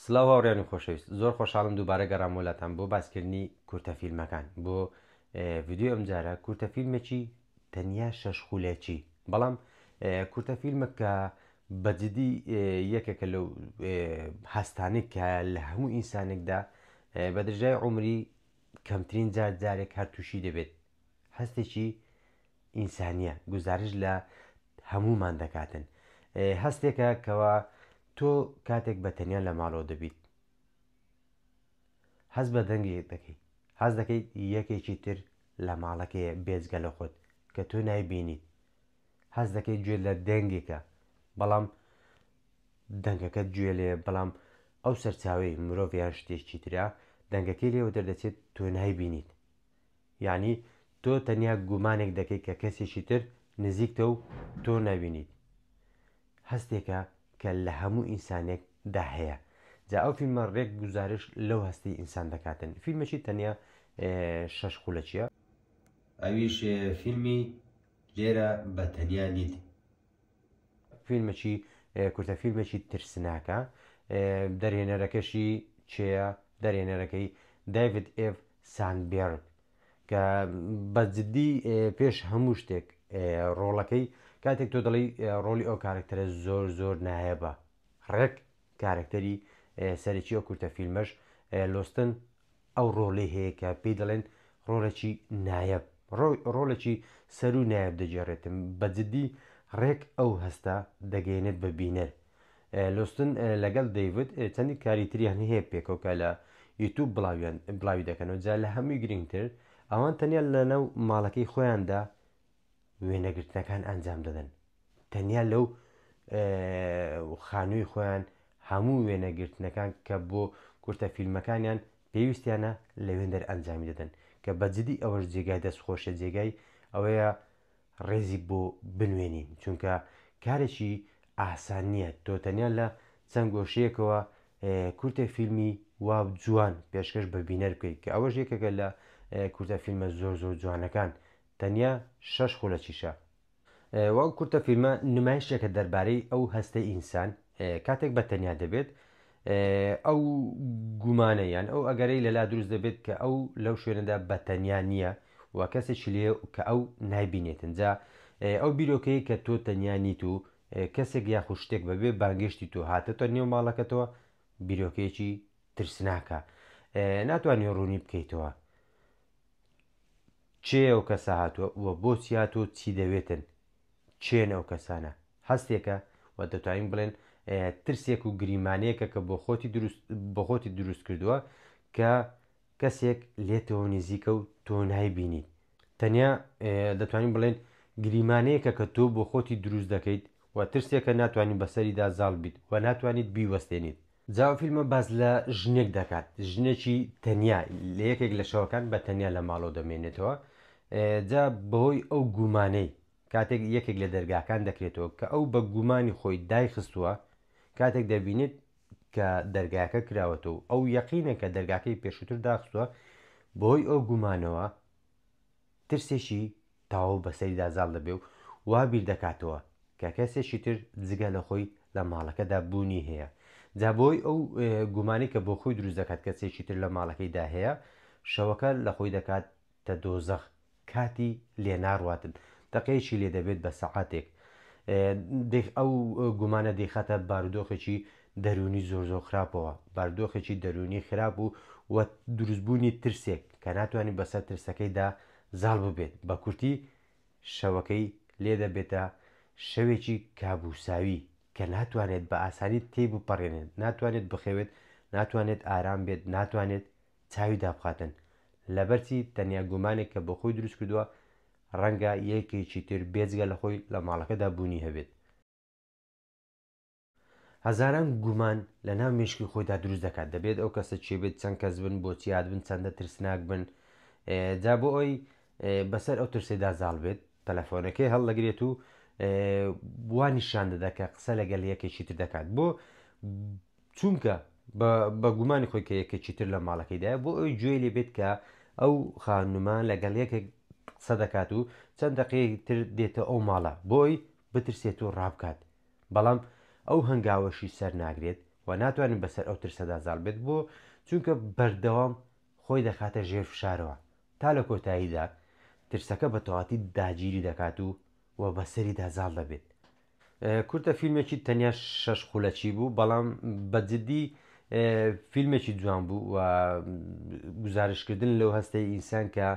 سڵاو هاوڕێیانی خۆشەویست زۆر خۆشحاڵم دووبارە گەڕامەوە لاتان بۆ باسکردنی کورتە فیلمەکان بۆ ڤیددیو ئەمجارە کورتە فیلمێکی تەنیا شەش خولەکی بەڵام کورتە فیلمە کە بەجددی یەکێکە لەو هەستانی کە لە هەموو ئینسانێکدا بە درژای عمری کەمترین جار جارێک هەر تووشی دەبێت هەستێکی ئینسانیە گوزارش لە هەموومان دەکاتن هەستێکە کەوا تۆ کاتێک بە تەنیا لە ماڵەوە دەبیت هەز بە دەنگی دەکەیت هەز دەکەیت یەکێکی تر لە ماڵەکەیە بێزگە لە خۆت کە تۆ نایبینیت هەز دەکەیت گوێ لە دەنگێکە بەڵام دەنگەکە گوێ لێ بەڵام ئەو سەرچاوی مرۆڤیان شتێکی تررا دەنگەکەی لێوە دەردەچێت تۆ نایبینیت یەعنی تۆ تەنیا گومانێک دەکەیت کە کەسێکی تر نزیکتە و تۆ نابینیت. هەستێکە کە لە هەموو ئینسانێک دا هەیە. جا ئەو فیلمە رێک گوزارش لەو هەستەی ئینسان دەکاتن. فیلمەکی تەنیا شەش خولەکیە. ئەویش فیلمی لێرە بە تەنیا نیت. فیلمەکی کورتە فیلمێکی ترسناکە دەرهێنەرەکەشی چێە دەرهێنەرەکەی دایڤد ئێڤ ساندبێرگ کە بە جددی پێش هەموو شتێک ڕۆڵەکەی کاتێک تۆ دەڵی ڕۆلی ئەو کارکتەرە زۆر زۆر نایەبە ڕێک کارکتەری سەرەکی ئەو کورتە فیلمەش لۆستن ئەو ڕۆڵەی هەیە کە پێی دەڵێن ڕۆڵێکی نایەب ڕۆڵێکی سەروو نایەب دەگێڕێتم بە جدی ڕێک ئەو هەستە دەگەیەنێت بە بینەر لۆستن لەگەڵ دەیڤد چەندی کاری تریان هەیە پێکەوە کە لە یوتوب بڵاویان بڵاوی دەکەنەوە جا لە هەمووی گرنگتر ئەوان تەنیا لەناو ماڵەکەی خۆیاندا وێنەگرتنەکان ئەنجام دەدەن تەنیا لەو خانووی خۆیان هەموو وێنەگرتنەکان کە بۆ کورتە فیلمەکانیان پێویستیانە لە وێندەر ئەنجامی دەدەن کە بەجددی ئەوەش جێگای دەست خۆشە جێگای ئەوەیە ڕێزی بۆ بنوێنین چونکە کارێکی ئاسان نییە تۆ تەنیا لە چەند گۆشەیەکەوە کورتە فیلمی وا جوان پێشکەش بە بینەر بکەیت کە ئەوەش یەکەکە لە کورتە فیلمە زۆر زۆر جوانەکان تەنیا شەش خولەکیشە. و ئەو کورتە فیلمە نمایشێکە دەربارەی ئەو هەستەی ئینسان کاتێک بە تەنیا دەبێت، ئەو گومانە یان ئەو ئەگەرەی لەلا دروست دەبێت کە ئەو لەو شوێنەدا بە تەنیا نییە و کەسێکی لێیە کە ئەو نایبینێتن، جا ئەو بیرۆکەیەی کە تۆ تەنیا نیت و کەسێک یاخود شتێک بەبێ بانگێشتی تۆ هاتۆتە نێو ماڵەکەتەوە بیرۆکەیەکی ترسناکە ناتوانی ڕوونی بکەیتەوە. کێیە ئەو کەسە هاتووە و بۆچی هاتووە و چی دەوێتن؟ کێن ئەو کەسانە؟ هەستێکە، وە دەتوانین بڵێن ترسێک و گریمانەیەکە کە بۆ خۆتی دروست بۆ خۆتی دروست کردووە کە کەسێک لێتەوە نیزیکە و تۆ نایبینیت. تەنیا دەتوانین بڵێن گریمانەیەکە کە تۆ بۆ خۆتی دروست دەکەیت و ترسێکە ناتوانیت بەسەریدا زاڵ بیت و ناتوانیت بیوەستێنیت. جا ئەو فیلمە باس لە ژنێک دەکات ژنێکی تەنیا لە یەکێک لە شەوەکان بە تەنیا لە ماڵەوە دەمێنێتەوە جا بەهۆی ئەو گومانەی کاتێک یەکێک لە دەرگاکان دەکرێتەوە کە ئەو بە گومانی خۆی دایخستووە کاتێک دەبینێت کە دەرگاکە کراوەتە و ئەو یەقینە کە دەرگاکەی پێشووتر داخستووە بەهۆی ئەو گومانەوە ترسێکی تەواو بەسەریدا زاڵ دەبێ و وا بیر دەکاتەوە کە کەسێکی تر جگە لە خۆی لە ماڵەکەدا بوونی هەیە. جا بەهۆی ئەو گومانەی کە بۆ خۆی دروست دەکات کەسێکی تر لە ماڵەکەیدا هەیە، شەوەکە لە خۆی دەکاتە دۆزەخ. کاتی لێ ناڕواتن. دەقێکی لێ دەبێت بە سەعاتێک. ئەو گومانە دەیخاتە بارودۆخێکی دەروونی زۆر زۆر خراپەوە، باردۆخێکی دەروونی خراپ و و دروست بوونی ترسێک کە ناتوانێت بەسەر ترسەکەیدا زاڵ ببێت، بە کورتی شەوەکەی لێ دەبێتە شەوێکی کابووساوی کە ناتوانێت بە ئاسانی تێی بپەڕێنێت، ناتوانێت بخەوێت، ناتوانێت ئارام بێت، ناتوانێت چاوی دابخاتن، لەبەر چی؟ تەنیا گومانێک کە بۆ خۆی دروست کردووە ڕەنگە یەکێکی تر بێجگە لە خۆی لە ماڵەکەدا بوونی هەبێت. هەزاران گومان لە ناو مێشکی خۆیدا دروست دەکات دەبێت ئەو کەسە کێ بێت چەند کەس بن بۆچی هاتبن چەندە ترسناک بن جا بۆ ئەوی بەسەر ئەو ترسێدا زاڵ بێت تەلەفۆنەکەی هەڵدەگرێت و بوا نیشان دەدەکە قسە لەگەل یەکێکی تر دەکات بۆ چونکە بە گومانی خۆی کە یەکێکی تر لە ماڵەکەیدا بۆ ئەوی گوێ لێ بێت کە ئەو خانومان لەگەڵ یەکێک قسە دەکات و چەند دقەیەک تر دێتە ئەو ماڵە بۆی بترسێت و ڕابکات، بەڵام ئەو هەنگاوەشی سەر ناگرێت و ناتوانێت بەسەر ئەو ترسەدا زاڵ بێت، بۆ؟ چونکە بەردەوام خۆی دەخاتە ژێر فشارەوە، تا لە کۆتاییدا ترسەکە بە تەواتی داگیری دەکات و و بەسەریدا زاڵ دەبێت. کورتە فیلمێکی تەنیا شەش خولەکی بوو، بەڵام بە جدی فیلمێکی جوان بوو و گوزارشتکردن لەو هەستەی ئینسان کە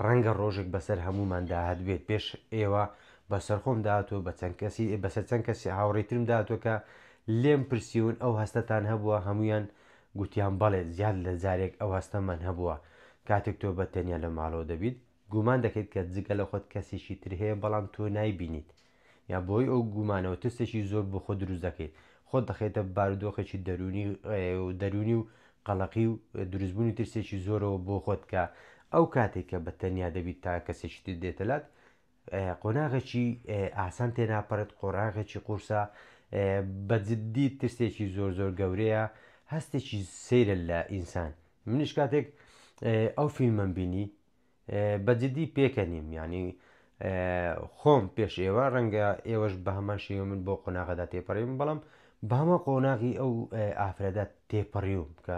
ڕەنگە ڕۆژێک بەسەر هەمووماندا هەتبێت، پێش ئێوە بەسەر خۆم داهاتووە بە چەند کەسی بەسەر چەند کەسی هاوڕێی ترم داهاتووە کە لێم پرسیون ئەو هەستەتان هەبووە هەموویان گوتیان بەڵێ زیاد لە جارێک ئەو هەستەمان هەبووە کاتێک تۆ بە تەنیا لە ماڵەوە دەبیت گومان دەکەیت کە جگە لە خۆت کەسیکی تر هەیە بەڵام تۆ نایبینیت یا بەهۆی ئەو گومانەوە ترسێکی زۆر بۆ خۆ دروست دەکەیت خۆت دەخەیتە بارودۆخێکی دەرونی دەرونی و قەڵەقی و دروستبوونی ترسێکی زۆرەوە بۆ خۆت کە ئەو کاتێک کە بە تەنیا دەبیت تا کەسێکی تر دێتەلات قۆناغێکی ئاسان تێناپەڕێت، قۆناغێکی قورسە، بە جددی ترسێکی زۆر زۆر گەورەیە، هەستێکی سەیرە لە ئینسان، منیش کاتێک ئەو فیلمەم بینی بە جددی پێکەنیم یانی خۆم پێش ئێوە ڕەنگە ئێوەش بە هەمان شێوە من بۆ قۆناغەدا تێپەڕیم بەڵام بە هەمە قۆناغی ئەو ئافرەتە تێپەڕیوم کە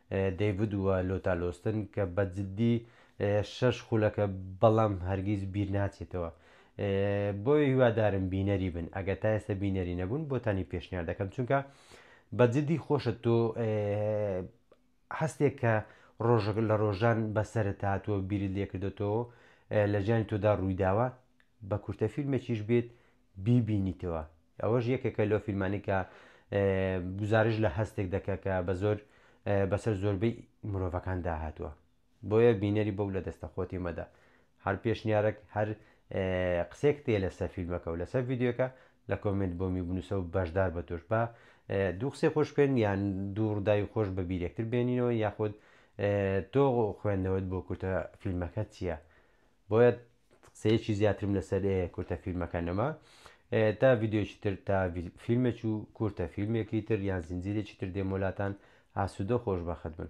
دەیڤد و لۆتا لۆستن کە بە جدی شەش خولەکە بەڵام هەرگیز بیر ناچێتەوە بۆیە هیوادارم بینەری بن ئەگە تا ئێستا بینەری نەبوون بۆتانی پێشنیار دەکەم چونکە بە جدی خۆشە تۆ هەستێک کە ڕۆژەک لە ڕۆژان بەسرە هاتووە بیرت لێکردێتەوە لە ژیانی تۆدا ڕوویداوە بە کورتە فیلمێکیش بێت بیبینیتەوە ئەوەش یەکێکە لەو فیلمانەی کە گوزارش لە هەستێک دەکە کە بە زۆر بەسەر زۆربەی مرۆڤەکان داهاتووە بۆیە بینەری بەو لە دەستە خۆتی مەدە هەر پێشنیارێک هەر قسێک تێ لەسەر فیلمەکە و لەسەر یددیوەکە لە کۆمنت بۆ می بنووسە و بەشدار بە توش بە دوو قسەی خۆش بکەین یان دوو ڕداوی خۆش بە بیرێکتر بێنینەوە یاخود تۆ خوێندنەوەت بۆ کورتە فیلمەکە چییە؟ بۆیە قسەیەکی زیاترم لەسەر کورتە فیلمەکە نەما تا ڤیددیوکی تر تا فیلمێک و کورتە فیلمێکی تر یان زنجیرێکی تر دێمۆلاتان ئاسوودە خۆش بەخت بن.